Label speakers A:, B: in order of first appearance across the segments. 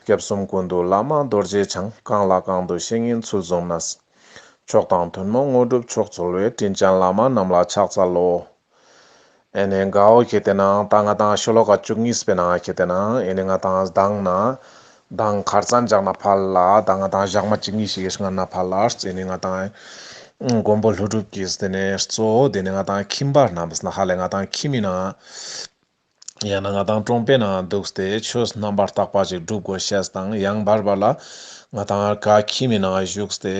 A: སྐྱབས་གསུམ་ཀུན་ཏུ་བླ་མ་རྡོ་རྗེ་འཆང་བསྐང་ལ་བསྐང་དུ་བཤེས་གཉེན་ཚུལ་འཛོམ་ན། མཆོག་དང་ཐུན་མོང་དངོས་གྲུབ་མཆོག་ཚོལ་བའི་དྲིན་ཅན་བླ་མ་རྣམས་ལ་ཕྱག་འཚལ་ལོ། ཨེ་ནས་དགའ་འོ་ཁྱེད་དེ་ནང་ད་ང་དང་ཤོ་ལོ་ཀ་བཅུ་གཉིས་པའི་ནང་ཁྱེད་དེ་ནང་ཨེ་ནས་ང་དང་སྡང་ན། སྡང་གར་རྩ་འཇག་ན་ཕ་ལ་ད་ང་དང་ཞག་མ་གཅིག་གཉིས་ཤིག་སྔ་ན་ཕ་ལར་ཨེ་ནས་ང་དང། མགོན་པོ་ལྷུ་གྲུབ་ཀྱིས་དེ་ནས་གཙོ་བོ་དེ་ནས་ང་དང་ཁྱིམ་པ་རྣམས་ཧ་ལས་ང་དང་ཁྱིམ་མི་ནང། ཡང་ན་ང་དང་ཀྲོང་པའི་ནང་འདུག་སྟེ་ཆོས་རྣམ་པར་དག་པ་ཅིག་སྒྲུབ་དགོས་ཤེས་དང་ཡང་བར་བར་ལ་ང་དང་ཨར་ཀ་ཁྱིམ་མི་ནང་བཞུགས་སྟེ་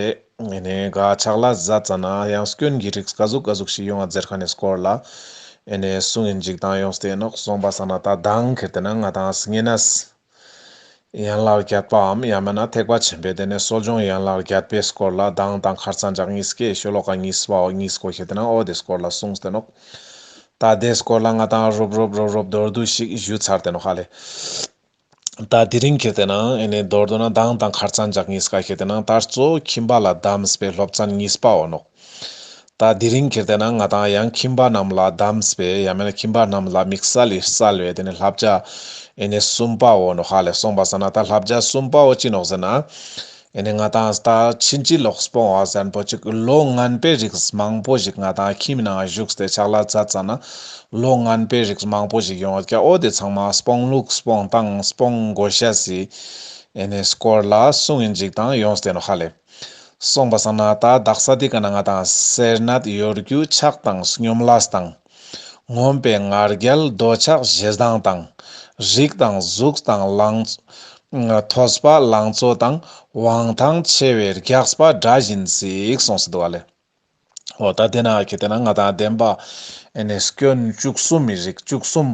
A: ངེད་ནས་དགའ་ཕྱག་ལ་བཟའ་ཙ་ན་ཡང་སྐྱོན་གྱི་རིགས་དགའ་གཟུགས་དགའ་གཟུགས་ཤིག་ཡོང་བ་རྫེར་ཁ་ནས་བསྐོར་ལ་ཨེ་ནས་སུ་ངས་འཇིགས་སྡང་ཡོང་སྟེ་ནོག་སོང་པ་ས་ན་ད་སྡང་གིར་དེ་ན་ང་དང་སི་ངེ་ནས་སི། ཡན་ལག་བརྒྱད་པའམ་ཡང་མིན་ན་ཐེག་པ་ཆེན་པོའི་སྡེ་ནས་གསོ་སྦྱོང་ཡན་ལག་བརྒྱད་པའི་སྐོར་ལ་གདངས་དང་ཁར་ཚངས་སྦྱངས་གཉིས་སྐྱེས་ཤོ་ལོ་ཀ་གཉིས་པའོ་གཉིས་གོ་ཞེས་དེ་ནང་ཨོ་དེ་སྐོར་ལ་གསུངས་སྟེ་ནོ། ད་དེ་སྐོར་ལ་ང་དང་རུབ་རུབ་རོབ་རོབ་མདོར་བསྡུས་ཤིག་ཞུས་ཚར་དེ་ནོ་ཧ་ལས། ད་དེ་རིང་གི་དེ་ནང་ཨེ་ནས་མདོར་བསྡུ་ན་གདངས་དང་ཁར་ཚངས་སྦྱངས་གཉིས་ཀ་ཞེས་དེ་ནང་ད་གཙོ་བོ་ཁྱིམ་པ་ལ་གདམས་པའི་སློབ་ཚན་གཉིས་པའོ་ནོ། ད་དེ་རིང་གི་བལྟས་ན་ང་དང་ཡང་ཁྱིམ་པ་རྣམས་ལ་གདམས་པས་ཡང་མེད་ན་ཁྱིམ་པ་རྣམས་ལ་མིག་གསལ་ལེ་གསལ་བས་དེ་ནི་ལྷ་བརྒྱ་ཨེ་ནས་གསུམ་པའོ་ནོ་ཧ་ལས་སོང་པ་ཟེར་ན་ད་ལྷ་བརྒྱ་གསུམ་པའོ་ཅི་ནོག་ཟེར་ན། ཨེ་ནས་ང་དང་ད་ཕྱིན་ཅི་ལོག་སྤོང་བ་གཟན་པོ་ཅིག་ལོ་ངན་པའི་རིགས་མང་པོ་ཞིག་ང་དང་ཁྱིམ་ནང་བཞུགས་ཏེ་ཕྱག་ལ་རྫ་བཙལ་ན་ལོ་ངན་པའི་རིགས་མང་པོ་ཞིག་ཡོང་བ་ཀྱ་ཨོ་དེ་ཚང་མ་སྤོང་ལུགས་སྤོང་སྟངས་སྤོང་དགོས་བཤད་སྲིད། ཨེ་ནས་སྐོར་ལ་གསུངས་ཨིན་ཅིག་དང་ཡོངས་བལྟས་ནོ་ཧ་ལས། སོང་པ་སང་ན་ད་བདག་ས་དེ་ག་ན་ང་དང་སེར་ནད་གཡོར་རྒྱུ་ཆགས་དང་སྙོམ་ལགས་དང། ངོམས་པའི་ངར་རྒྱལ་རྡོ་ཆགས་བཞི་ལྡང་དང། རིགས་དང་གཟུགས་དང་ལང། ཐོས་པ་ལང་ཚོ་དང་དབང་ཐང་ཆེ་བའི་རྒྱགས་པ་འདྲ་བཞིན་ཟིག་སོང་སི་འདུག་ཨ་ལེ། འོ་ད་དེ་ན་གལ་ཏེ་ན་ང་དང་བདེན་པ་ཨེ་ནས་སྐྱོན་བཅུ་གསུམ་མི་རིགས་བཅུ་གསུམ་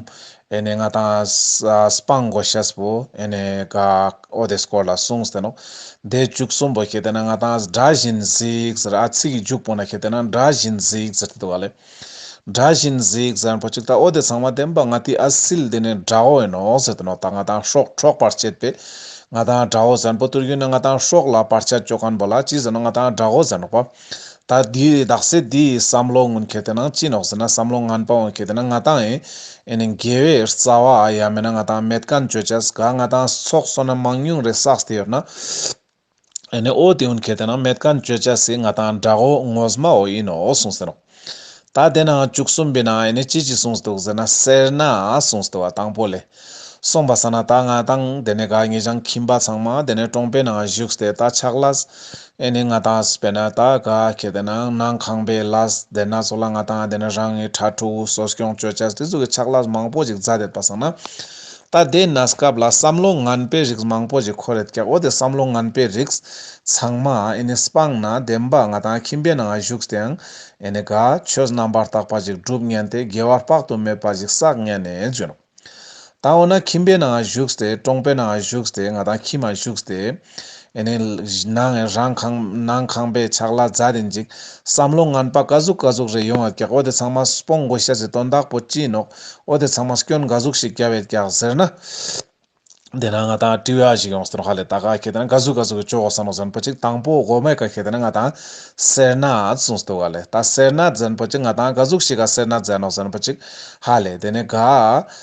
A: ཨེ་ནས་ང་དང་སྤང་གོ་ཤེས་པོ་ཨེ་ནས་ག་ཨོ་དེ་སྐོར་ལ་གསུངས་ཟེར་ནོ། དེ་བཅུ་གསུམ་པོ་གལ་ཏེ་ན་ང་དང་འདྲ་བཞིན་གཟིགས་ཟེར་ཨ་ཚིག་གི་འཇུག་པོ་ན་གལ་ཏེ་ན་འདྲ་བཞིན་གཟིགས་ཟེར་དེ་དུ་བ་ལས། དགྲ་བཞིན་གཟིགས་ཟེར་ན་བོད་ཕྱི་དྭོགས་དེ་ཚང་མ་བདེན་པ་ང་དེ་ཨ་སིལ་དེ་ནས་དགྲ་བོ་ཡིན་ནོ་ཟེར་དུ་ནོ་ད་ང་དང་ཤོག་ཁྲོག་པར་བྱེད་པས་ང་དང་དགྲ་བོ་ཟེར་ན་བོད་དུར་རྒྱུན་ནས་ང་དང་ཤོག་ལ་པར་ཆ་གཅོད་གང་བོ་ལ་ཅི་ཟེར་ནོ་ང་དང་དགྲ་བོ་ཟེར་ནོག་པ། ད་དེ་དག་སེ་དེ་ཡི་བསམ་བློ་ངོན་ཁེ་དེ་ནང་ཅི་ནོག་ཟེར་ན་བསམ་བློ་ངན་པ་འོང་ཁེ་དེ་ན་ང་དང་ཨེ་ཨེ་ནས་འགལ་བའི་རྩ་བ་ཨ་ཡ་མེད་ན་ང་དང་མེད་གན་བཅོས་བྱས་ག་ང་དང་ཚོགས་སོ་ན་མང་ཉུང་རེ་བསགས་དེ་ཡོད་ན། ཨེ་ནས་ཨོ་དེའུ་མཁས་དེ་ནང་མེད་གང་བཅོས་བྱ་སྲིད་ང་དང་འདྲ་ཨོ་ངོས་མ་ཨོ་ཡིན་ནོ་གསུངས་ཟིན་རོ། ད་དེ་ནང་བཅུ་གསུམ་པའི་ནང་ཨེ་ནས་ཅི་ཅི་གསུངས་འདུག་ཟེར་ན་སེར་སྣ་གསུངས་འདུག་བ་དང་པོ་ལས། གསུངས་པ་ཟ་ན་ད་ང་དང་དེ་ནས་ག་ངེས་ཀྱང་ཁྱིམ་པ་ཚང་མ་དེ་ནས་ཀྲོང་པའི་ནང་བཞུགས་ཏེ་ད་ཆགས་ལ། ཨེ་ནས་ང་དང་བས་ན་ད་ག་ཁྱེད་དེ་ནང་ནང་ཁང་པའི་ལ་དེ་ན་ཚོ་ལ་ང་དང་དེ་ནས་རང་ངེས་ཁྲ་ཁྲོ་བོའུ་སོ་སྐྱོང་བཅོས་བྱ་སྲིད་ཚུགས་ཀྱི་ཆགས་ལ་མང་པོ་ཅིག་རྫ་དེད་པ་ཟ་ན། ད་ལྟའི་ན་སྐབས་ལ་བསམ་བློ་ངན་པའི་རིགས་མང་པོ་ཞིག་འཁོར་ཡོད་ཀྱང་འོ་དེ་བསམ་བློ་ངན་པའི་རིགས་ཚང་མ་ཨེ་ནས་སྤངས་ན་བདེན་པ་ང་དང་ཁྱིམ་པའི་ནང་ང་བཞུགས་དེང་ཨེ་ནས་དགའ་ཆོས་རྣམ་པར་དག་པ་ཞིག་སྒྲུབ་ངན་དེ་དགེ་བ་དཔག་ཏུ་མེད་པ་ཞིག་བསགས་ངན་ནས་བྱོན། ད་འོ་ན་ཁྱིམ་པའི་ནང་ང་བཞུགས་དེ་གྲོང་པའི་ནང་ང་བཞུགས་དེ་ང་དང་ཁྱིམ་ང་བཞུགས་དེ། ནང་རང་ཁང་ནང་ཁང་པའི་ཕྱག་ལ་རྫ་རེ་འཇིག། བསམ་བློ་ངན་པ་ཀ་ཟུག་ཀ་ཟུག་རེ་ཡོང་བ་ཀྱག་འོ་དེ་ཚང་མ་སྤོང་དགོས་ཤ་ཟེ་དོན་དག་པོ་སྐྱིད་ནོག་འོ་དེ་ཚང་མ་སྐྱོན་འགའ་གཟུགས་ཤིག་རྒྱ་བས་ཀྱག་ཟེར་ན། དེ་ན་ང་དང་བཀྲིས་བ་ཞིག་ཡོང་སྟོན་ཧ་ལས་ད་ག་ཁྱེད་དང་ཀ་ཟུག་ཀ་ཟུག་གི་ཅོ་གོ་ས་ནོ་ཟན་པོ་ཅིག་དང་པོ་གོ་མེད་ཀ་ཁྱེད་དང་ང་དང་སེར་ན་ཙུང་སྟུ་ག་ལས་ད་སེར་ན་ཛན་པོ་ཅིག་ང་དང་ཀ་ཟུག་ཤིག་ག་སེར་ན་ཛན་ནོ་ཟན་པོ་ཅིག་ཧ་ལས་དེ་ནས་ག་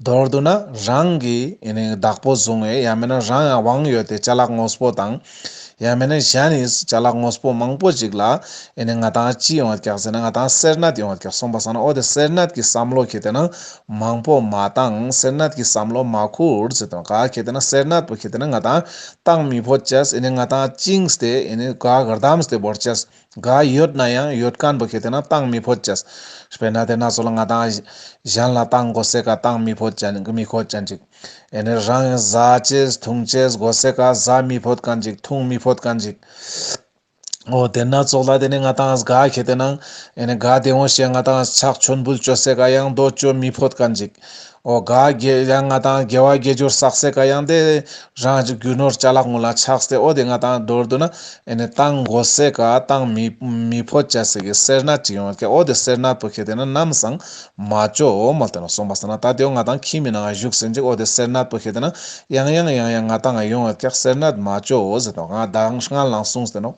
A: མདོར་བསྡུ་ན་རང་གི་བདག་པོ་བཟུང་བས་ཡང་མིན་ན་རང་ཡང་དབང་ཡོད་དེ་བྱ་གླག་དངོས་པོ་དང། ཡང་མིན་ན་གཞན་ནི་བྱ་གླག་དངོས་པོ་མང་པོ་ཞིག་ལ་ང་དང་ཅི་ཡོང་བར་བཀྱག་ཟེར་ན་ང་དང་སེར་ནད་ཡོང་བར་བཀྱག་སོང་པ་བསམ་ན་འོ་དེ་སེར་ནད་ཀྱི་བསམ་བློ་ཁྱེད་དེ་ན་མང་པོ་མ་བཏང་སེར་ནད་ཀྱི་བསམ་བློ་མ་ཁུར་ཟེར་དོན་ག་ཁྱེད་དེ་ན་སེར་ནད་པོ་ཁྱེད་དེ་ན་ང་དང་སྟངས་མི་ཕོ་བཅས་ང་དང་གཅིག་སྟེ་ག་གར་དམ་སྟེ་བོར་བཅས། དགའ་ཡོད་ན་ཡང་ཡོད་གང་འདུག་ཁྱེད་དེ་ན་གཏང་མི་ཕོད་ཅེས་པས་ན་དེ་ན་ཚོ་ལ་ང་དང་གཞན་ལ་གཏང་དགོ་སེ་ག་གཏང་མི་ཕོད་ཅན་མི་ཁོ་ཅན་ཅིག་ཨེ་ནི་རང་གི་བཟའ་ཆས་འཐུང་ཆས་དགོ་སེ་ག་བཟའ་མི་ཕོད་གང་ཅིག་འཐུང་མི་ཕོད་གང་ཅིག། ཨོ་དེ་ན་ཚོགས་ལ་དེ་ནི་ང་དང་གཟྒ་ཁྱེད་དེ་ན་ཨེ་ནི་གཟྒ་དེ་འོ་ཞེས་ང་དང་ཕྱག་མཆོད་འབུལ་བསྐྱོད་སེ་ག་ཡང་འདོད་བསྐྱོད་མི་ཕོད་གང་ཅིག། ཨོ་དགའ་བརྒྱད་ལ་ལྔ་དང་དགེ་བ་བརྒྱད་ཅུར་བསགས་སའི་བཀའ་ཡང་དེ་རང་གི་རྒྱུ་ནོར་བཅའ་ལག་ངོ་ལ་ཆགས་སའི་ཨོ་དེ་ལྔ་དང་སྒྲོར་འདུག་ན་ཨེ་ནས་གཏང་མགོ་སའི་བཀའ་གཏང་མི་མི་ཕོ་བཅའ་སའི་གི་སེར་སྣ་ཅིག་ཡོང་བ་ཁས་ཨོ་དེ་སེར་སྣར་བུ་ཁས་དེ་ན་ནམ་སང་མ་ཅོ་འོ་མ་དེ་ན་སོང་བ་ས་ན་ད་དེའོ་ང་དང་ཁྱིས་མི་ནང་ང་བཞུགས་ཟིན་ཅིག་ཨོ་དེ་སེར་སྣར་བུ་ཁས་དེ་ན་ཡང་ཡང་ཡང་ཡང་ང་དང་ང་ཡོང་བ་ཁས་སེར་སྣར་མ་ཅོ་འོ་ཟེར་ཏོ་ང་དང་སྔར་ལང་སོང་ཟེར་ནོ།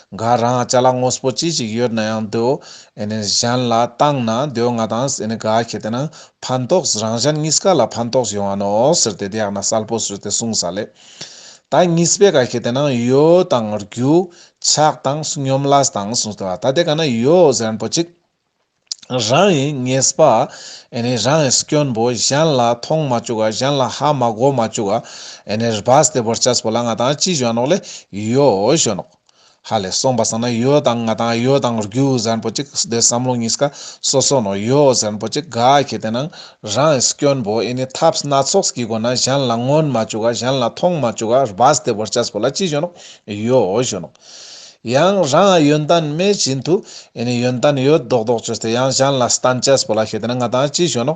A: འགའ་རང་བཅའ་ལག་ངོ་སྤོ་ཅི་ཞིག་ཡོད་ན་ཡང་དེའོ་ཨེ་ནས་གཞན་ལ་གཏང་ན་དེའོ་ང་དང་ཨེ་ནས་དགའ་ཁས་དེ་ན་ཕན་ཐོགས་རང་གཞན་གཉིས་ཀ་ལ་ཕན་ཐོགས་ཡོང་བ་ནོ་ཟེར་ཏེ་དེ་ཡག་ན་གསལ་པོ་བཟོས་ཏེ་གསུངས་ས་ལས། ད་གཉིས་པའི་ག་ཤེད་དེ་ན་ཡོ་དང་རྒྱུ། ཆགས་དང་སྙོམས་ལ་དང་གསུངས་ཏེ་བ་ད་དེ་ག་ན་ཡོ་གཟན་པོ་གཅིག། རང་ཡིན་ངེས་པ། ཨེ་ནས་རང་ཡིན་སྐྱོན་པོ་གཞན་ལ་མཐོང་མ་བཅུག་ག་གཞན་ལ་ཧ་མ་གོ་མ་བཅུག་ག། ཨེ་ནས་རྦ་སྟེ་བོར་ཆགས་པོ་ལ་ང་དང་ཅི་གཞོན་ནོག་ལས་ཡོ་གཞོན་ནོག། ཧ་ལས་སོང་བ་བསམ་ན་ཡོད་དང་ང་དང་ཡོད་དང་རྒྱུ་ཟན་པོ་ཅིག་སྡེ་བསམ་བློ་གཉིས་ཀ་སོ་སོ་ནོ་ཡོད་ཟན་པོ་ཅིག་ག་གི་དེ་ནང་རང་ཨེ་སྐྱོན་པོ་ཨེ་ནི་ཐབས་སྣ་ཚོགས་ཀྱི་སྒོ་ན་གཞན་ལ་མངོན་མ་བཅུག་ག་གཞན་ལ་མཐོང་མ་བཅུག་ག་རྦ་སྟེ་བོར་ཆགས་པོ་ལ་ཅི་བྱོན་ནོ་ཡོད་བྱོན་ནོ། ཡང་རང་ཡོན་ཏན་མེད་བཞིན་དུ་ཨེ་ནི་ཡོན་ཏན་ཡོད་མདོག་མདོག་བྱོས་ཏེ་ཡང་གཞན་ལ་སྟན་ཆགས་པོ་ལ་ཤེས་དེ་ན་ང་དང་ཅི་བྱོན་ནོ་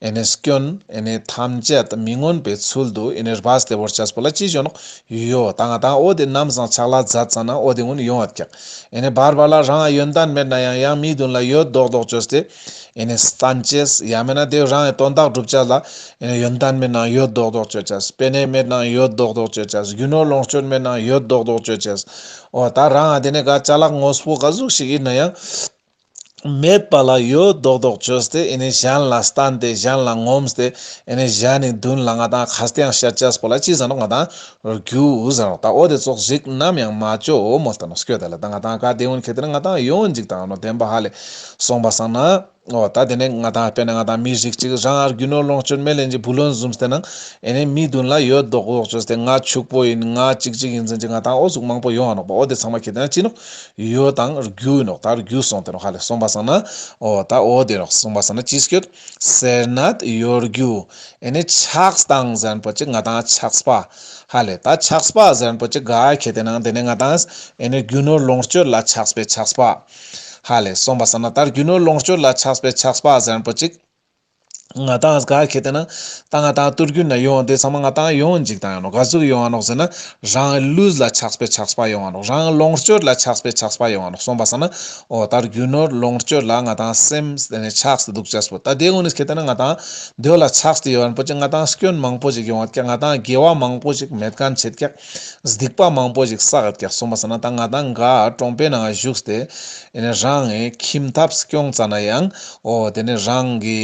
A: ཨེ་ནས་སྐྱོན་ཨེ་ནས་ཐམས་ཅད་མི་མངོན་པའི་ཚུལ་དུ་ཨེ་ནས་བྷ་སྟེ་བོར་བྱས་སོ་བོ་ལ་ཅི་བྱུང། ཡོ་དང་ཨ་དང་ཨོ་དེ་རྣམས་བཟང་ཆགས་ལ་བཟའ་ཙང་ན་ཨོ་དེ་སྔོན་ཡོང་བ་ཀྱང། ཨེ་ནས་བར་བར་ལ་རང་ཡོན་ཏན་མེད་ན་ཡང་ཡང་མི་བདུན་ལ་ཡོད་བཟློག་བཟློག་བཅོས་ཏེ། ཨེ་ནས་སྟན་བཅས་ཡང་མེད་ན་དེ་རང་ཡི་དོན་དག་བསྒྲུབ་བྱ་ལ། ཨེ་ནས་ཡོན་ཏན་མེད་ན་ཡོད་བཟློག་བཟློག་བཅོས་བྱས་སོ་པེ་ནས་མེད་ན་ཡོད་བཟློག་བཟློག་བཅོས་བྱས་སོ་རྒྱུ་ནོར་ལོངས་སྤྱོད་མེད་ན་ཡོད་བཟློག་བཟློག་བཅོས་བྱས་སོ། ཨོ་ད་རང་ཨ་དེ་ནས་ག་བྱ་ལགས་ངོ་སྤོ་ག་གཟུགས་ཤིག་ཡིན་ན་ཡང། མེད་པ་ལ་ཡོད་རྡོག་རྡོག་བྱོས་ཏེ་ཨེ་ནས་གཞན་ལ་བསྟན་ཏེ་གཞན་ལ་ངོམས་སྟེ་ཨེ་ནས་གཞན་ནི་བདུན་ལ་ང་དང་ཁཱ་སྟེང་ཤཱ་ཅཱས་པོ་ལ་ཅི་བཟང་རོག་ང་དང་རྒྱུ་བཟང་རོག་ད་འོ་དེ་ཙོག་ཞིག་ནམ་ཡང་མ་བཅོ་འོ་མོ་ལྟ་ནོ་སྐྱོ་ད་ལ་ད་ང་དང་ཁཱ་དེའུ་ནི་ཁེ་ཏེ་ནི་ང་དང་ཡོང་འཇིག་དང་ནོ་དེན་པ་ཧ་ལས་སོང་པ་སང་ན་འོ་ད་དེ་ནས་ང་དང་དཔེ་ནས་ང་དང་མི་ཞིག་ཅིག་རང་ཨར་གུ་ནོ་ལོངས་སྤྱོད་མེ་ལེན་ཅིག་བུ་ལོན་འཛུམ་སྟེ་ན་ཨེ་ནས་མི་བདུན་ལ་ཡོད་རྡོག་རྡོག་བྱོས་ཏེ་ང་ཕྱུག་པོ་ཡིན་ང་ཅིག་ཅིག་ཡིན་ཟིན་ཅིག་ང་དང་འོ་གཟུགས་མང་པོ་ཡོང་ཨ་རོག་པ་འོ་དེ་ཚང་མ་ཁེ་ཏེ་ན་ཅི་ནོ། ཡོད་དང། རྒྱུ་ཡིན་རོགས། ད་རྒྱུ་སོང་དེ་རོགས་ཧ་ལས་སོང་པ་སང་ན། འོ། ད་འོ་དེ་རོགས་སོང་པ་སང་ན་ཅི་སྐྱོད། སེར་ནད་ཡོད་རྒྱུ། ཨེ་ནས་ཆགས་སྡང་གཟན་པོ་ཅི་ང་དང་ཆགས་པ། ཧ་ལས་ད་ཆགས་པ་གཟན་པོ་ཅི་ག་ཁྱེད་དེ་ནང་དེ་ནས་ང་དང། ཨེ་ནས་རྒྱུ་ནོར་ལོངས་སྤྱོད་ལ་ཆགས་པའི་ཆགས་པ། ཧ་ལས་སོང་པ་སང་ན་ད་རྒྱུ་ནོར་ལོངས་སྤྱོད་ལ་ཆགས་པའི་ཆགས་པ་གཟན་པོ་ཅི། ང་དང་ག་གེ་དེ་ན་ད་ང་དང་ཏུར་གུར་ན་ཡོང་དེ་ཚང་མ་ང་དང་ཡོང་འཇིག་དང་ཡོང་ནོ་ག་ཟུག་ཡོང་ཨ་ནོག་ཟེར་ན་རང་ལུས་ལ་ཆགས་པའི་ཆགས་པ་ཡོང་ཨ་ནོག་རང་ལོངས་སྤྱོད་ལ་ཆགས་པའི་ཆགས་པ་ཡོང་ཨ་ནོག་སོང་པ་ས་ན་ཨོ་ད་རྒྱུ་ནོར་ལོངས་སྤྱོད་ལ་ང་དང་སེམས་དེ་ནས་ཆགས་སུ་འདུག་ཅེས་པོ་ད་དེ་ངོ་ནས་གེ་དེ་ན་ང་དང་འདོད་ལ་ཆགས་སུ་ཡོད་ཨ་ནོ་པོ་ཅིག་ང་དང་སྐྱོན་མང་པོ་ཞིག་ཡོང་ཨ་ཀྱ་ང་དང་དགེ་བ་མང་པོ་ཞིག་མེད་ག་མཆིས་ཀྱ། སྡིག་པ་མང་པོ་ཞིག་བསགས་ཀྱང་སོང་བ་ཟ་ན་ད་ང་དང་འགའ་གྲོང་པའི་ནང་བཞུགས་ཏེ། རང་གི་ཁྱིམ་ཐབ་སྐྱོང་ཙམ་ན་ཡང་ཨོ་དེ་ནི་རང་གི་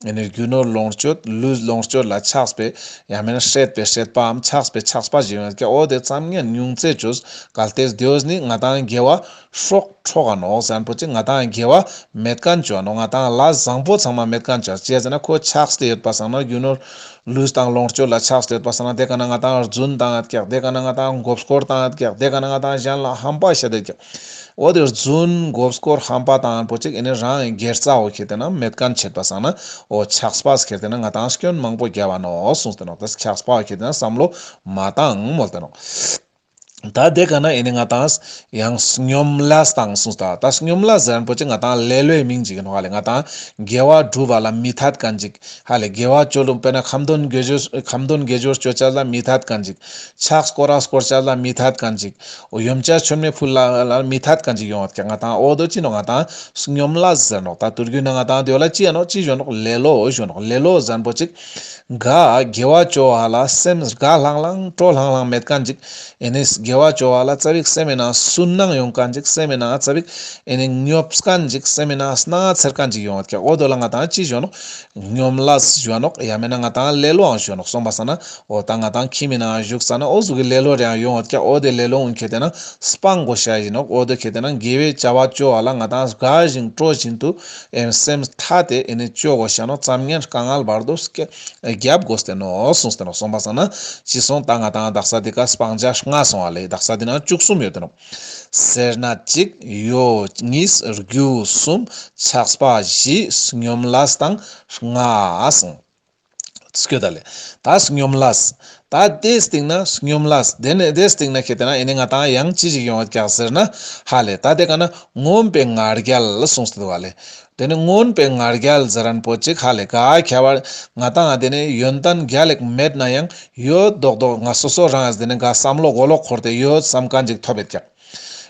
A: རྒྱུ་ནོར་ལོངས་སྤྱོད་ལུས་ལོངས་སྤྱོད་ལ་ཆགས་པའི་ཡང་མིན་ན་ཤེས་པའི་ཤེས་པའམ་ཆགས་པའི་ཆགས་པ་ཞིག་ཡོད་ཀྱང་ཨོ་དེ་ཙམ་ཉམས་མྱོང་རྩད་གཅོད་གལ་ཏེ་དེ་ནི་ང་དང་འགལ་བ། སོགས་ཁྲོ་ག་ནོག་ཟན་པོ་ཅི་ང་དང་འགལ་བ་མེད་དཀར་མཆོག་ནོག་ང་དང་ལ་བཟང་པོ་ཚང་མ་མེད་དཀར་མཆོག་བྱས་ཟེར་ན་ཁོ་ཆགས་སྡེ་ཡོད་པ་བཟང་ནོག་རྒྱུ་ནོར་ལུས་དང་ལོངས་སྤྱོད་ལ་ཆགས་སྡེ་ཡོད་པ་བཟང་ན་དེ་ག་ན་ང་དང་རྫུན་དང་རྒྱག་དེ་ག་ན་ང་དང་འགོབ་སྐོར་དང་རྒྱག་དེ་ག་ན་ང་དང་གཞན་ལ་ཧམ་པ་བྱས་དེ་རྒྱག་འོ་དེ་རྫུན་འགོབ་སྐོར་ཧམ་པ་དང་པོ་ཅིག་ཨེ་ནི་རང་སྒེར་རྩ་འོ་ཁེར་དེ་ན་མེད་དཀར་མཆེད་པ་བཟང་ན་འོ་ཆགས་སྤ་ཁེར་དེ་ན་ང་དང་སྐྱོན་མང་པོ་རྒྱལ་བ་ནོག་གསུངས་དེ་ནོག་དེ་ཆགས་སྤ་ཁེར་དེ་ན་བསམ་བློ་མ་བཏང་མོལ་དེ་ནོག། ད་དེ་ག་ན་ཡིན་ནི་ང་དང་ཡང་སྙོམས་ལ་དང་གསུངས་ད་ད་སྙོམས་ལ་ཟེར་རིན་པོ་ཆེ་ང་དང་ལེ་ལོའི་མིང་ཅིག་ཡིན་ཧ་ལས་ང་དང་དགེ་བ་སྒྲུབ་པ་ལ་མི་ཐ་དཀའ་འཇིག་ཧ་ལས་དགེ་བ་སྤྱོད་ལུགས་དཔེར་ན་ཁམ་སྡོན་དགེ་སྦྱོར་ཁམ་སྡོན་དགེ་སྦྱོར་སྤྱོད་བྱ་ལ་མི་ཐ་དཀའ་འཇིག་ཕྱག་སྐོར་ར་སྐོར་བྱ་ལ་མི་ཐ་དཀའ་འཇིག་ཡུམ་བྱ་ཆོས་མེད་ཕུལ་ལ་མི་ཐ་དཀའ་འཇིག་ཡོང་བ་དཀའ་ང་དང་འོ་དོ་ཅི་ནོ་ང་དང་སྙོམས་ལ་ཟེར་ནོ་ད་དུར་རྒྱུད་ན་ང་དང་དོད་ལ་ཅི་ཡིན་ནོ་ཅི་བཞོན་ནོ་ལེ་ལོ་བཞོན་ནོ་ལེ་ལོ་ཟེར་རིན་པོ་ཆེ། དགའ། དགེ་བ་སྤྱོད་བ་ལ་སེམས་དགའ་ལྷང་ལྷང་སྤྲོ་ལྷང་ལྷང་མེད་དཀའ་འཇིགས། ཨེ་ནས་དགེ་བ་སྤྱོད་བ་ལ་རྩ་བའི་སེམས་མེད་ན་སུན་སྣང་ཡོང་དཀའ་འཇིགས་སེམས་མེད་ན་རྩ་བའི། ཨེ་ནས་ཉོབ་དཀའ་འཇིགས་སེམས་མེད་ན་སྣ་ཚེར་དཀའ་འཇིགས་ཡོང། ཨོ་རྡོ་ལ་ང་དང་ཅི་བཞོན་ནོ། ཉོམ་ལ་བཞོན་ནོ། ཡ་མེད་ན་ང་དང་ལེ་ལོའང་བཞོན་ནོ་གསུངས་པ་ས་ན་ཨོ་ད་ང་དང་ཁྱི་མེད་ནའང་བཞུགས་ས་ན་ཨོ་གཟུགས་ཀྱི་ལེ་ལོ་རེའང་ཡོང་ཨོ་ཨོ་དེ་ལེ་ལོའང་ཁྱེད་བལྟས་ན་སྤང་མགོ་བྱ་བཞིན་ནོ་ཨོ་རྡོ་ཁྱེད་བལྟས་ན་དགེ་བའི་བྱ་བ་སྤྱོད་བ་ལ་ང་དང་དགའ་ཞིང་སྤྲོ་བཞིན་དུ། ཨེ་ནི་སེམས་ཐ་དད་ཨེ་ནི་སྤྱོད་བོ་ཞེ་ན་ཙམ་ངན་དཀའ་ངལ་བར་དུ་བརྒྱབ་དགོས་བསྟན་ནོ་གསུངས་བསྟན་ནོ་གསུངས་པ་ཙམ་ན་ཅི་གསུངས་ད་ང་དང་བདག་ས་འདི་ཀ་སྤང་བྱ་ལྔ་གསུངས་བ་ལས་བདག་ས་འདི་ན་བཅུ་གསུམ་ཡོད་དོ། སེར་སྣ་གཅིག། ཡོ། གཉིས། རྒྱུ། གསུམ། ཆགས་པ་བཞི། སྙོམས་ལ། དང། ལྔ། གསུངས། སྐྱོ་ད་ལེ། ད་སྙོམས་ལགས། ད་དེའི་སྟེང་ན་སྙོམས་ལགས། དེ་ནས་དེའི་སྟེང་ན་ཁྱེད་ལྟས་ན་ཨེ་ནི་ང་དང་ཡང་ཅི་ཞིག་ཡོང་བ་རྒྱག་ཟེར་ན། ཧ་ལས་ད་དེ་ག་ན་ངོམས་པའི་ངར་རྒྱལ་གསུངས་སྟེ་བ་ལེ། དེ་ནི་ངོམས་པའི་ངར་རྒྱལ་ཟེར་རན་པོ་ཅིག་ཧ་ལས་ག་ཁྱད་པར་ང་དང་ཨ་དེ་ནི་ཡོན་ཏན་རྒྱ་ལེགས་མེད་ན་ཡང་ཡོད་མདོག་མདོག་ང་སོ་སོ་རང་ཨེ་ཟེར་ནས་འགའ་བསམ་བློ་མགོ་ལོག་འཁོར་ཏེ་ཡོད་བསམ་ག་འཇིག་ཐོབ་པའི་རྒྱག།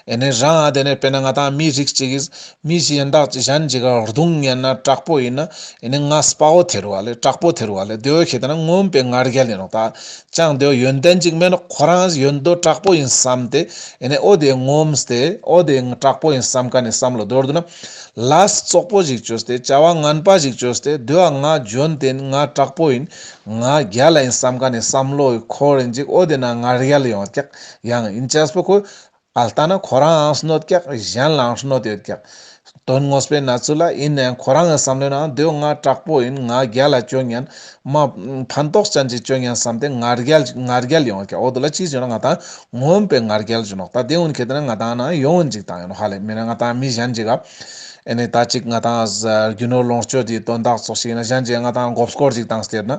A: ཨེ་ནས་རང་ཨ་དེ་ནས་དཔེ་ན་ང་དང་མི་རིགས་གཅིག་གིས་མི་ཞིག་ཡང་དག་ཅིག་གཞན་གྱི་གར་རྡུང་ངན་ན་དྲག་པོ་ཡིན་ན་ཨེ་ནས་ང་སྤ་བོ་དེ་རུ་བ་ལས་དྲག་པོ་དེ་རུ་བ་ལས་འདོད་ཤེས་ད་ན་ངོམས་པའི་ངར་རྒྱལ་ཡིན་རུང་ད་ཅང་འདོད་ཡོན་ཏན་གཅིག་མེད་ན་ཁོ་རང་ཡོན་འདོད་དྲག་པོ་ཡིན་བསམ་ཏེ་ཨེ་ནས་ཨོ་དེ་ངོམས་ཏེ་ཨོ་དེ་དྲག་པོ་ཡིན་བསམ་ག་ནས་བསམ་ལོ་འདོར་འདོད་ན་ལས་ཙོག་པོ་ཞིག་བཅོས་ཏེ་བྱ་བ་ངན་པ་ཞིག་བཅོས་ཏེ་འདོད་ང་འཇོན་ཏེ་ང་དྲག་པོ་ཡིན་ང་རྒྱལ་ཡིན་བསམ་ག་ནས་བསམ་ལོ་ཁོ་རེ་འཇིག་ཨོ་དེ་ན་ངར་རྒྱལ་ཡོང་ཀྱག། ཡང་ཨིན་ཅཱས་པོ་ཁོ་ཨ་ལྟ་ན་ཁོ་རའང་སྣོད་བཀྱག་གཞན་ལའང་སྣོད་ཡོད་བཀྱག་དོན་ངོ་སྤེལ་ན་ཚུལ་ལ་ཨིན་ནའི་ཁོ་རང་གི་བསམ་བློའི་ནང་འདོད་ང་དྲག་པོ་ཨིན་ང་རྒྱལ་ལ་སྤྱོད་ཉན་མ་ཕན་ཐོགས་ཅན་གྱི་སྤྱོད་ཉན་བསམ་སྟེ་ང་རྒྱལ་ང་རྒྱལ་ཡོང་བཀྱག་འོ་དོ་ལ་ཅིས་བྱུང་ན་ང་དང་ངོམ་པའི་ང་རྒྱལ་བྱུང་ནོག་ད་དེ་ཨུན་ཁེ་ཏེ་ན་ང་དང་ན་ཡོང་ཨུན་ཅིག་དང་ཡོང་ཧ་ལས་མི་ན་ང་དང་མི་གཞན་གྱི་གབ་ཨེ་ནས་ད་ཅིག་ང་དང་རྒྱུ་ནོར་ལོངས་སྤྱོད་ཀྱི་དོན་དག་ཚོགས་ཤིག་ཡིན་ན་གཞན་གྱི་ང་དང་འགོབ་སྐོར་ཅིག་དང་ཟེར་ན།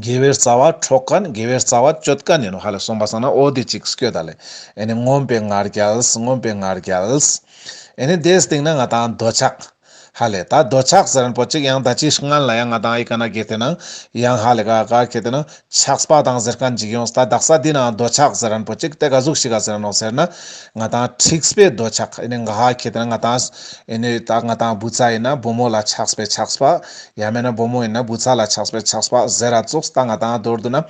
A: དགེ་བའི་རྩ་བ་འཕྲོག་དཀའ་ནི་དགེ་བའི་རྩ་བ་གཅོད་དཀའ་ནི་ནོ་ཧ་ལས་གསུངས་པ་སང་ན་ཨོ་དེ་ཅིག་སྐྱོ་ད་ལས་ཨེ་ནི་ངོམས་པའི་ངར་བརྒྱལ་ངོམས་པའི་ངར་བརྒྱལ། ཨེ་ནི་དེའི་སྟེང་ན་ང་དང་རྡོ་ཆག། ཧ་ལས་ད་རྡོ་ཆག་ཟེར་པོ་ཅིག་ཡང་ད་ཅིག་སྔན་ལ་ཡང་ང་དང་ཨི་ཀ་ན་གེ་དེ་ན་ཡང་ཧ་ལས་ག་ག་གེ་དེ་ན་ཆག་སྤ་དང་ཟེར་ཁ་འཇིག་ཡོང་ད་རྡག་ས་དེ་ན་རྡོ་ཆག་ཟེར་པོ་ཅིག་དེ་ག་ཟུག་ཤི་ག་ཟེར་ནོ་ཟེར་ན་ང་དང་འཁྲིག་སྤའི་རྡོ་ཆག་ཨེ་ནི་ག་གེ་དེ་ན་ང་དང་ཨེ་ནི་ད་ང་དང་བུ་ཚ་ཡིན་ན་བུ་མོ་ལ་ཆག་སྤའི་ཆག་སྤ། ཡང་མེད་ན་བུ་མོ་ཡིན་ན་བུ་ཚ་ལ་ཆགས་པས་ཆགས་པ་ཟེར་ར་ཙོགས་ལྟ་ང་དང་རྡོར་བསྡུར་ན།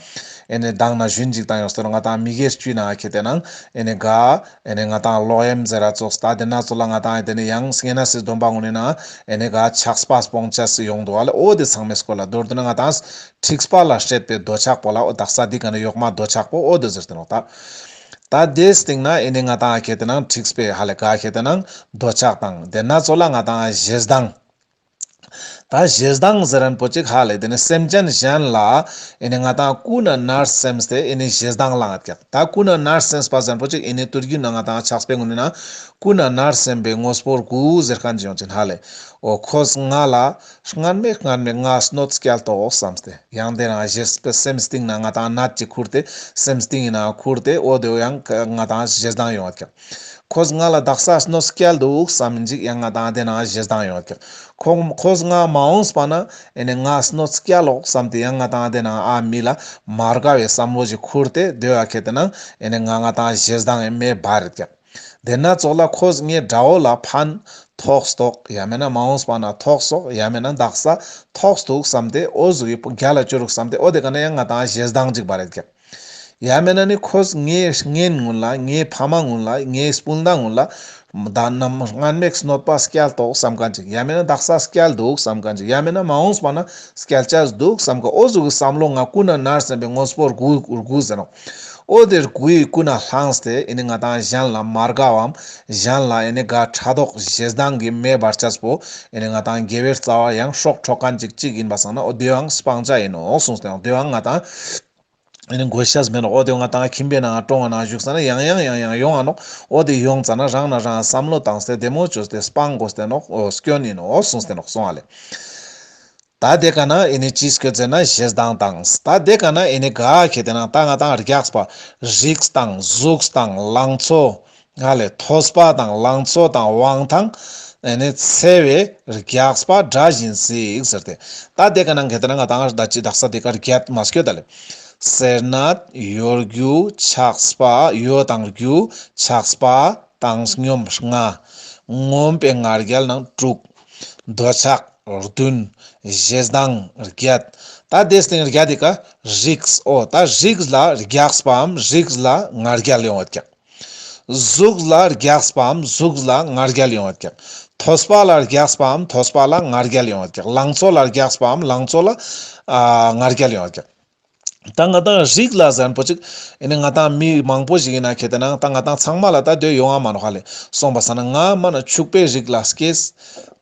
A: ཨེ་ནས་སྡང་ན་གཞོན་འཇིག་དང་ཡོང་སྟོར་ང་དང་མི་སྒེར་གཅུས་ན་ཁྱེད་ལྟས་ན། ཨེ་ནས་དགའ། ཨེ་ནས་ང་དང་ལོག་ཨེམ་ཟེར་ར་ཙོགས་ལྟ་དེ་ན་ཙོ་ལ་ང་དང་ཨེ་དེ་ནས་ཡང་སྙེ་ན་སིས་སྡོམ་པ་ངོ་ནས་ན། ཨེ་ནས་དགའ་ཆགས་པ་སྤོང་ཆ་སིས་ཡོང་འདུག་ཨ་ལས་ཨོ་དེ་ཚང་མས་སྐོར་ལ་རྡོར་བསྡུར་ན་ང་དང་ཨིསཁྲིགས་པ་ལ་བཤད་པའི་རྡོ་ཆག་པོ་ལ་ཨོ་དག་ས་དེ་ག་ནས་ཡོག་མ་རྡོ་ཆག་པོ་ཨོ་དེ་ཟེར་ཏེ་ནོག་ལྟ། ད་དེ་སྟེང་ན་ཨེ་ནས་ང་དང་ཨ་ཁྱེད་ལྟས་ན་ཨིསཁྲིགས་པས་ཧ་ལས་དགའ་ཁྱེད་ལྟས་ན་རྡོ་ཆག་དང་དེ་ན་ཙོ་ལ་ང་དང་ཨ་གཞས་སྡང། ད་གཞས་གདངས་ཟེར་རན་པོ་གཅིག་ཧ་ལས་དེ་ནི་སེམས་ཅན་གཞན་ལ་ཨེ་ནི་ང་དང་སྐུ་ན་ནར་སེམས་དེ་ཨེ་ནི་གཞས་གདངས་ལངས་ཀྱག་ད་སྐུ་ན་ནར་སེམས་པ་ཟེར་པོ་གཅིག་ཨེ་ནི་དུར་རྒྱུན་ན་ང་དང་ཕྱག་སྤེ་ངོ་ནི་ན་སྐུ་ན་ནར་སེམས་པའི་ངོ་སྤོར་དགུ་ཟེར་ཁ་འཇིང་ཅིང་ཧ་ལས་ཨོ་ཁོས་ང་ལ་སྔར་མེད་སྔར་མེད་ང་སྣོད་སྐྱལ་ཏོག་བསམས་ཏེ་ཡང་དེ་རང་གཞས་སྤེ་སེམས་སྟིང་ན་ང་དང་ནར་གཅིག་ཁུར་དེ་སེམས་སྟིང་ཡིན་ན་ཁུར་དེ་ཨོ་དེ་ཡང་ང་དང་གཞས་གདངས་ཡོང་ཀྱག། ཁོས་ང་ལ་དག་སར་སྣོད་སྐྱེལ་འདུག་བསམ་མི་འཇུག་ཡང་ང་དང་ལྡན་ན་གཞི་བདག་ཡོད་ཀྱི། ཁོས་ང་མ་འོངས་པ་ན་ཨེ་ནས་ང་སྣོད་སྐྱེལ་ལོག་བསམ་སྟེ་ཡང་ང་དང་ལྡན་ན་ཨ་མི་ལ་མ་དགའ་བའི་བསམ་བློ་ཞིག་ཁུར་ཏེ་སྡོད་ཨ་ཁད་དེ་ན་ཨེ་ནས་ང་ང་དང་གཞི་བདག་ངའི་མེ་སྦར་རེད་ཀྱི། དེ་ན་ཚོགས་ལ་ཁོས་ངའི་དགྲ་བོ་ལ་ཕན་ཐོགས་དོགས་ཡ་མེད་ན་མ་འོངས་པ་ན་ཐོགས་སོགས་ཡ་མེད་ན་དག་སར་ཐོགས་འདུག་བསམ་སྟེ་ཨོ་གཟུགས་ཡི་བུ་རྒྱ་ལ་བསྐྱུར་རོགས་བསམ་སྟེ་ཨོ་དེ་ག་ནས་ཡང་ང་དང་གཞི་བདག་འཇིག་པ་རེད་ཀྱི། ཡང་མེད་ན་ནི་ཁོས་ངའི་སྔན་ངོ་ལ་ངའི་ཕ་མ་ངོ་ལ་ངའི་སྤུན་ཟླ་ངོ་ལ། བདག་ནམ་སྔར་མེག་སྣོད་པ་སྐྱལ་དོགས་བསམ་ག་འཇིག་ཡང་མེད་ན་བདག་ས་སྐྱལ་འདུག་བསམ་ག་འཇིག་ཡང་མེད་ན་མ་འོངས་པ་ན་སྐྱལ་བྱ་འདུག་བསམ་ག་ཨོ་གཟུགས་ཀྱི་བསམ་བློ་ང་སྐུ་ན་ནར་སོན་པའི་དངོས་པོར་གུ་གུ་ཟེར་རོ། ཨོ་དེར་གུ་ཡིས་སྐུ་ན་བསླངས་ཏེ་ཡིན་ནི་ང་དང་གཞན་ལ་མ་དགའ་བའམ་གཞན་ལ་ཡིན་ནི་དགའ་ཕྲ་དོགས་གཞས་སྡང་གིས་མེ་སྦར་བྱ་སྤོ་ཡིན་ནི་ང་དང་དགེ་བའི་རྩ་བ་ཡང་ཧྲོག་ཧྲོག་ག་འཇིག་གཅིག་ཡིན་པ་བསམ་ན་ཨོ་དེའང་སྤང་བྱ་ཡིན་ནོ་གསུངས་ཏེ་ཨོ་དེའང་ང་དང། ཨ་ནི་མགོ་ཤ་ཟ་མེད་ནོ་ཨོ་དེ་ང་ད་ཁྱིམ་པའི་ནང་ཀྲོང་བ་ནང་བཞུགས་ས་ན་ཡང་ཡང་ཡང་ཡང་ཡོང་ཨ་ནོ་ཨོ་དེ་ཡོང་ཙ་ན་རང་ན་རང་བསམ་བློ་བཏང་སྟེ་དེ་མོ་ཅོ་སྟེ་སྤང་མགོ་སྟེ་ནོ་སྐྱོ་ནི་ནོ་ཨོ་སོང་སྟེ་ནོ་སོང་ཨ་ལེ། ད་དེ་ག་ན་ཨི་ནི་ཅིས་ཁྱོད་ཙེ་ན་བཞེས་སྡང་བཏང་ད་དེ་ག་ན་ཨི་ནི་ག་ཁྱེད་དེ་ན་ད་ང་ད་རྒྱགས་པ་རིགས་སྡང་གཟུགས་སྡང་ལང་ཚོ་ང་ལས་མཐོ་སྤ་དང་ལང་ཚོ་དང་དབང་ཐང་འཚལ་བས་རྒྱགས་སྤ་འདྲ་བཞིན་གཟིགས་ཟེར་ཏེ། ད་དེ་ག་ནང་གལ་ཏེ་ན་ང་དང་ད་ཅི་དག་ས་དེ་གར་རྒྱལ་མ་སྐྱོད་ད་ལེ། ཟེར་ན། ཡོ་རྒྱུ་ཆགས་སྤ་ཡོ་དང་རྒྱུ་ཆགས་སྤ་དང་སྙོམས་ལྔ། ངོམས་པའི་ང་རྒྱལ་ནང་དྲུག། འདོད་ཆགས་བདུན། བཞེས་སྡང་བརྒྱད། ད་དེ་སྟེང་རྒྱ་དེ་ག་རིགས་ཨོ་ད་རིགས་ལ་རྒྱགས་སྤའམ་རིགས་ལ་ང་རྒྱལ་ཡོང་བ་རྒྱགས། གཟུགས་ལ་རྒྱགས་པའམ་གཟུགས་ལ་ངར་རྒྱལ་ཡོང་བར་བཀྱག། ཐོས་པ་ལ་རྒྱགས་པའམ་ཐོས་པ་ལ་ངར་རྒྱལ་ཡོང་བར་བཀྱག་ལང་ཚོ་ལ་རྒྱགས་པའམ་ལང་ཚོ་ལ་ངར་རྒྱལ་ཡོང་བར་བཀྱག། ད་ང་དང་རིགས་ལ་གཟན་པོ་ཅིག་ཡིན་ནི་ང་དང་མི་མང་པོ་ཞིག་ཡིན་ན་ཁྱེད་དེ་ནང་ད་ང་དང་ཚང་མ་ལ་ད་སྡོད་ཡོང་ཨ་མ་རོ་ཧ་ལས་སོང་པ་ཟ་ན་ང་མ་ན་ཕྱུག་པའི་རིགས་ལ་སྐྱེས།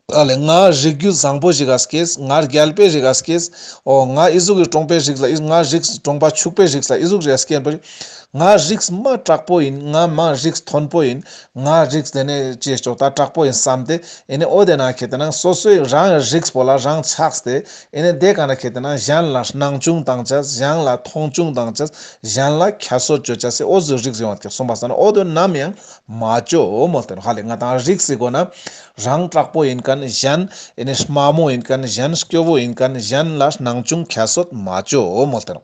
A: ཨ་ལེ་ང་རིགས་རྒྱུད་བཟང་པོ་ཞིག་སྐྱེས། ང་རྒྱལ་པོའི་རིགས་སྐྱེས། ཨོ་ང་ཨི་གཟུགས་ཀྱི་གྲོང་པའི་རིགས་ལ་ང་རིགས་གྲོང་པ་ཕྱུག་པའི་རིགས་ལ་ཨི་གཟུགས་རེད་སྐད་འབོད། ང་རིགས་མ་དྲག་པོ་ཡིན་ང་མ་རིགས་མཐོན་པོ་ཡིན། ང་རིགས་དེ་ནས་ཅེས་སྐྱོ་ད་དྲག་པོ་ཡིན་བསམ་སྟེ་ཨེ་ནས་ཨོ་དེ་ན་ཁྱེད་དེ་ན་སོ་སོའི་རང་གི་རིགས་བོ་ལ་རང་ཆགས་ཏེ་ཨེ་ནས་དེ་ག་ན་ཁྱེད་དེ་ན་གཞན་ལ་སྣང་ཆུང་དང་ཆ་གཞན་ལ་མཐོང་ཆུང་དང་ཆ་གཞན་ལ་ཁྱད་གསོད་བཅོས་བྱ་སའི་ཨོ་གཟུགས་རིགས་རེད་བ་ཁྱེད་གསུངས་པ་ས་ན་ཨོ་དོན་ནམ་ཡང་མ་བཅོས་མོ་དོན་ཧ་ལས་ང་དང་རིགས་སི་གོ་ན་རང་དྲག་པོ་ཡིན་གནས་གཞན་ཨེ་ནས་དམའ་མོ་ཡིན་གནས་གཞན་སྐྱོ་བོ་ཡིན་གནས་གཞན་ལ་སྣང་ཆུང་ཁྱད་གསོད་མ་བྱོས་འོ་མོ་སྟེར།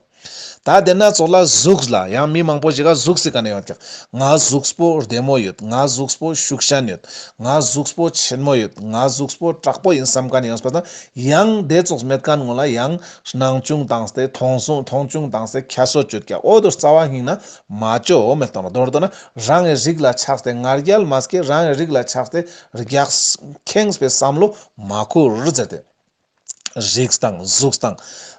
A: ད་བདེན་ན་ཚོགས་ལ་གཟུགས་ལ་ཡང་མི་མང་པོ་ཞིག་ལ་གཟུགས་སུ་གནས་ཡོད་ཀྱང་ང་གཟུགས་པོ་བདེ་མོ་ཡོད་ང་གཟུགས་པོ་ཤུགས་ཞན་ཡོད་ང་གཟུགས་པོ་ཆེན་མོ་ཡོད་ང་གཟུགས་པོ་དྲག་པོ་ཡིན་བསམ་གནས་ཡོད་པ་དང་ཡང་བདེ་ཚོགས་མེད་གནས་ངོ་ལ་ཡང་སྣང་ཆུང་དང་སྟེ་མཐོང་ཆུང་དང་སྟེ་ཁྱད་གསོད་བྱོས་ཀྱང་འོ་དོ་རྩ་བ་སྙིང་ན་མ་བྱོས་འོ་མོ་སྟེར་མདོར་བསྡུ་ན། རང་གི་རིགས་ལ་ཆགས་ཏེ་ངར་རྒྱལ་མ་སྐྱེས་རང་གི་རིགས་ལ་ཆགས་ཏེ་རྒྱགས། ཁེངས་པའི་བསམ་བློ་མ་ཁུར་ཟེར་ཏེ། རིགས་དང་གཟུགས་དང།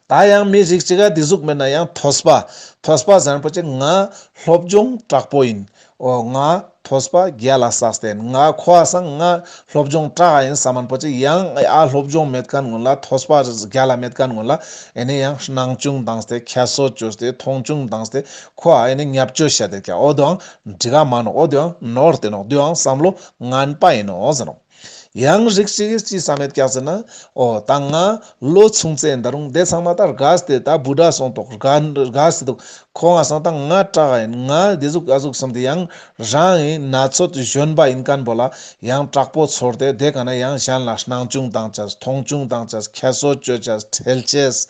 A: ད་ཡང་མི་རིགས་ཅི་ག་དེ་གཟུགས་མེད་ན་ཡང་ཐོས་པ། ཐོས་པ་ཟེར་པོ་ཅིག་ང་སློབ་སྦྱོང་དྲག་པོ་ཡིན། ཨོ་ང་ཐོས་པ་རྒྱལ་ལ་ཟགས་ཏེ་ང་ཁོ་བ་སང་ང་སློབ་སྦྱོང་དྲག་ཡིན་ས་མིན་པོ་ཅིག་ཡང་ཨ་སློབ་སྦྱོང་མེད་ག་ངོ་ལ་ཐོས་པ་རྒྱལ་ལ་མེད་ག་ངོ་ལ་ཨེ་ནས་ཡང་སྣང་ཆུང་དང་ཏེ་ཁྱད་གསོད་བྱོས་ཏེ་མཐོང་ཆུང་དང་ཏེ་ཁོ་ཨ་ཡེ་ནི་ཉབ་སྤྱོད་བྱས་ཏེ་ཀྱང་འོ་དོའང་འདྲི་ག་མ་ནོ་འོ་དོའང་ནོར་བསྟན་ནོ་དུའང་བསམ་བློ་ངན་པ་ཡིན་ནོ་ཟེར་རོ། ཡང་རིགས་གཅིག་གིས་ཅི་བསམ་མེད་སྐྱག་ཟེར་ན། འོ་ད་ང་ལོ་ཆུང་ཚེ་འདི་རུང་དེ་ཚང་མ་ད་རྒ་སྟེ་ད་བུ་དགྲ་སོང་དོག་རྒ་རྒ་སི་འདུག་ཁོ་ང་སོང་ད་ང་སྐྲག་ག་ཡིན་ང་དེ་གཟུགས་ཨ་གཟུགས་གསུམ་དེ་ཡང་རང་ཡིན་ན་ཚོད་གཞོན་པ་ཡིན་ག་འབོ་ལ་ཡང་དྲག་པོ་ཚོར་ཏེ་དེ་ག་ན་ཡང་གཞན་ལ་སྣང་ཆུང་བཏང་བྱས་ཐོང་ཆུང་བཏང་བྱས་ཁྱད་གསོད་བྱོས་བྱས་ཁྲེལ་བྱས།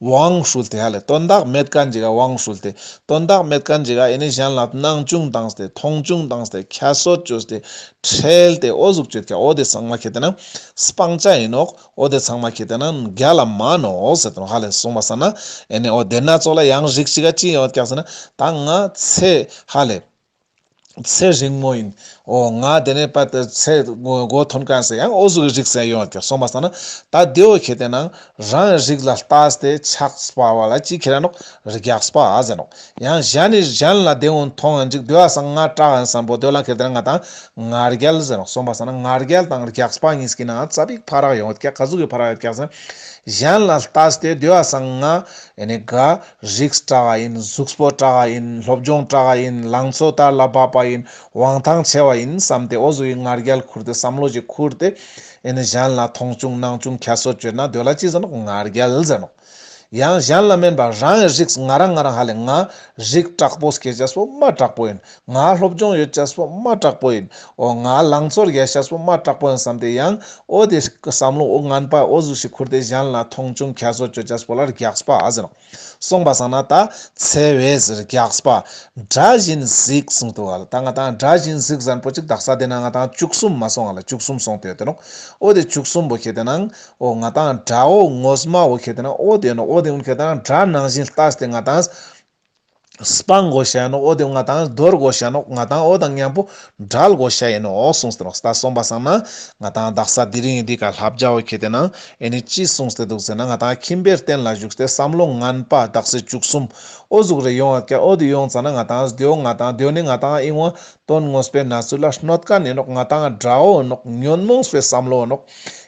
A: དབང་ཧྲུལ་ཏེ་ཧ་ལས་དོན་དག་མེད་དཀའ་འཇི་ག་དབང་ཧྲུལ་ཏེ་དོན་དག་མེད་དཀའ་འཇི་ག་ཨེ་ནི་གཞན་ལ་སྣང་ཅུང་དང་སྟེ་མཐོང་ཅུང་དང་སྟེ་ཁ་སོད་ཅུས་ཏེ་ཁྲེལ་ཏེ་ཨོ་གཟུགས་སྤྱོད་ཁྱའོ་དེ་ཚང་མ་ཁྱེད་ཏེ་ན་སྤང་བྱ་ཡིན་ནོ་ཨོ་དེ་ཚང་མ་ཁྱེད་ཏེ་ན་རྒྱ་ལ་མ་ནོ་ཟེར་དོན་ཧ་ལས་གསུངས་པ་ས་ན་ཨེ་ནི་ཨོ་དེ་སྣ་ཚོགས་ལ་ཡང་རིགས་གཅིག་ག་ཅི་ཡོད་ཀྱང་ཟེར་ན་ད་ང་ཚེ་ཧ་ལས་ཚེ་རིང་མོ་ཡིན། འོ་ང་དེ་ནས་པ་དེར་ཚེ་སྒོ་ཐོན་གང་ཟེར་ཡང་ཨོ་གཟུགས་ཀྱི་རིགས་ཟེར་ཡོང་སྟེ་སོང་བ་ས་ན་ད་དེ་འོ་ཁྱེད་དེ་ནང་རང་རིགས་ལ་ལྟ་སྟེ་ཆགས་སྤ་བ་ལ་ཅི་ཁྱེད་རང་ནོག་རིགས་ཡག་སྤ་ཨ་ཟེར་ནོག་ཡང་གཞན་ནས་གཞན་ལ་དེ་འོ་མཐོང་ཡང་ཅིག་དེ་བ་ས་ང་སྐྲག་ཡང་བསམ་པོ་དེ་ལ་ཁྱེད་དེ་ནང་ང་དང་ང་རྒྱལ་ཟེར་ནོག་སོང་བ་ས་ན་ང་རྒྱལ་དང་རྒྱག་སྤ་གཉིས་ཀྱི་ནང་རྩ་བིག་ཕ་རག་ཡོང་ཀྱག་ག་གཟུགས་ཀྱི་ཕ་རག་ཡོད་ཀྱག་ཟེར་གཞན་ལ་ལྟ་སྟེ་དེ་བ་ས་ང་ཡེ་ནས་དགའ་རིགས་བཀྲ་བ་ཡིན་གཟུགས་པོ་བཀྲ་བ་ཡིན་སློབ་སྦྱོང་བཀྲ་བ་ཡིན་ལང་ཚོ་དར་ལ་བབས་པ་ཡིན་དབང་ཐང་ཆེ་བ་ཡིན་བསམ་སྟེ་ཨོ་བཟོ་བའི་ངར་རྒྱལ་ཁུར་ཏེ་བསམ་བློ་ཞིག་ཁུར་ཏེ་ཨེ་ནི་གཞན་ལ་མཐོང་ཆུང་གནང་ཆུང་ཁྱད་གསོད་བྱོས་ན་དོལ་ལ་ཅི་ཟེར་ནོ་ངར་རྒྱལ་ཟེར་ནོ། ཡང་གཞན་ལ་སྨན་པ་རང་གི་རིགས་ང་རང་ང་རང་ཧ་ལས་ང། རིགས་དྲག་པོ་སྐད་ཆ་སོ་མ་དྲག་པོ་ཡིན་ང་སློབ་སྦྱོང་ཡོད་ཅག་སོ་མ་དྲག་པོ་ཡིན་འོ་ང་ལང་ཚོར་ཡལ་ཤག་སོ་མ་དྲག་པོ་ཡིན་བསམ་སྟེ་ཡང་ཨོ་དེ་ཀི་བསམ་བློ་ཨོ་ངན་པ་ཨོ་གཟུགས་ཤིག་ཁུར་ཏེ་བཞན་ལ་མཐོང་ཆུང་ཁྱད་གསོད་སྤྱོད་ཅག་སོ་ལ་རྒྱགས་པ་ཨ་ཟེར་སོང་བ་བསམ་ན་ད་ཚེ་བས་རྒྱགས་པ་དགྲ་བཞིན་གཟིགས་གསུང་དུ་ཨ་ལ་ད་ང་དང་དགྲ་བཞིན་གཟིགས་བཟང་པོ་ཅིག་དག་ས་དེ་ན་ང་དང་བཅུ་གསུམ་མ་སོང་ཨ་ལ་བཅུ་གསུམ་སོང་དེ་དེ་ནོ་ཨོ་དེ་བཅུ་གསུམ་པོ་ཁྱེད་དེ་ན་འོ་ང་དང་དགྲ་འོ་ངོ་སྨྲ་འོ་ཁྱེད་དེ་ན་ཨོ་དེ་ནོ་ཨོ་དེ་འོ་ཁྱེད་དང་དགྲ་ནང་བཞིན་ལྟ་སྟེ་ང་དང། སྤང་བགོ་བྱ་ཡིན་ནོ་ཨོ་དེ་ང་དང་རྡོར་བགོ་བྱ་ཡིན་ནོ་ང་དང་ཨོ་དང་མཉམ་པོ་དགྲ་བགོ་བྱ་ཡིན་ནོ་ཨོ་གསུངས་ཟེར་རོ་ས་གསུངས་པ་བསམ་ན་ང་དང་བདག་ས་དེ་རིང་ཡིན་དུས་ག་ལྷ་བརྒྱ་བོ་ཁྱེད་དེ་ན་ཨེ་ནི་ཅི་གསུངས་ཟེར་འདུག་ཟེར་ན་ང་དང་ཁྱིམ་པའི་རྟེན་ལ་བཞུགས་ཏེ་བསམ་བློ་ངན་པ་བདག་སྲིད་བཅུ་གསུམ་ཨོ་གཟུགས་རེ་ཡོང་བ་ཀྱ་ཨོ་དེ་ཡོང་ཙང་ན་ང་དང་སྡོད་ང་དང་སྡོད་ནི་ང་དང་ཨིན་ཝ་དོན་དངོས་པའི་ན་ཚུལ་ལ་སྣོད་དཀར་ནི་ནོ་ང་དང་དགྲ་བོ་ནོ་ཉོན་མོངས་པའི་བསམ་བློ་ནོ།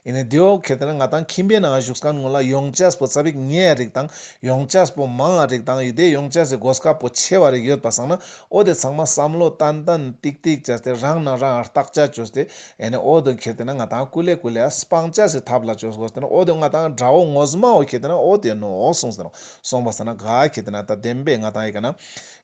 A: ཡིན་ནའི་དེའོ་གལ་ཏེ་ན་ང་དང་ཁྱིམ་པའི་ནང་བཞུགས་སྒར་ངོས་ལ་ཡོངས་ཅཱས་པོ་རྩ་བིག་ཉའི་རིགས་དང་ཡོངས་ཅཱས་པོ་མང་ང་རིགས་དང་ཡི་དའི་ཡོངས་ཅཱས་སའི་གོ་སྐབས་པོ་ཆེ་བ་རིགས་ཡོད་པ་བསང་ན་ཨོ་དེ་ཚང་མ་བསམ་བློ་ཏན་ཏན་ཏིག་ཏིག་བྱས་ཏེ་རང་ནང་རང་བརྟག་དཔྱད་བྱོས་ཏེ་ཡིན་ནའི་ཨོ་དོ་གལ་ཏེ་ན་ང་དང་སྐུ་ལས་སྐུ་ལས་སྤང་ཅཱས་སའི་ཐབས་ལ་བྱོས་སོ་ཏེ་ན་ཨོ་དོ་ང་དང་འདྲ་བོ་ངོ་སྨྲ་བོ་གལ་ཏེ་ན་ཨོ་དེ་ནོ་གསུངས་ཟིན་ནོ་གསུངས་པ་ཟེར་ན་ག་གལ་ཏེ་ན་ད་བདེན་པས་ང་དང་ཡི་ག་ན་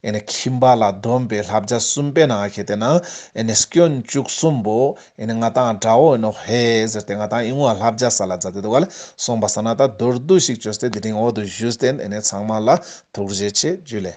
A: ཡིན་ནའི་ཁྱིམ་པ་ལ་བསྡོམས་པའི་ལྷ་བརྒྱ་གསུམ་པའི་ནང་གལ་ཏེ་ན་ཡིན་ནའི་སྐྱོན་བཅུ་གསུམ་པོ་ཡེ་ནས་ང་དང་འདྲ་བོ་ཡིན་ནོ་ཧེ་ཟེར་ཏེ་ང་དང་ཨི་ངུ་བ་ལྷ་བརྒྱ་ས་ལ་འཛག་སྟེ་འདུག་ག་ལ་སོང་བ་ཟེར་ན་ད་རྡོ་རྡུ་ཞིག་བཅོས་ཏེ་དེ་རིང་འོག་ཏུ་བཞུད་དེ་ཨེ་ནས་ཚང་མ་ལ་ཐུགས་རྗེ་ཆེ་རྒྱུ་ལས།